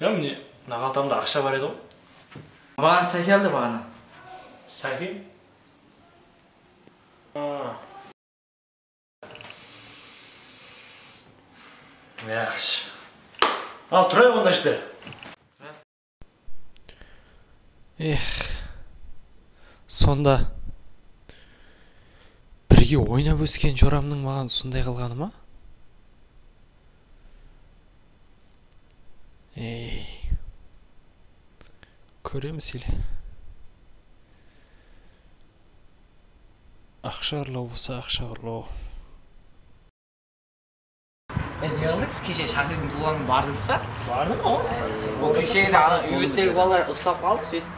Ya mine naqaltamda aqsha bar edi ǵoy. Maǵan saki aldı baǵana. Saki? Aa. Yaqshı. Al turayıq onda ishte. Ex. Sonda birge oynap ósken joramnıń maǵan usınday qılǵanı ma? Kóremiz ele. Aqsha urlaw bolsa aqsha urlaw. E ne qıldınız keshe shakirdiń tuwǵanına bardınız ba? Bardım ǵo. Ol keshegi ana úy bettegi balalar uslap qaldı sóytip.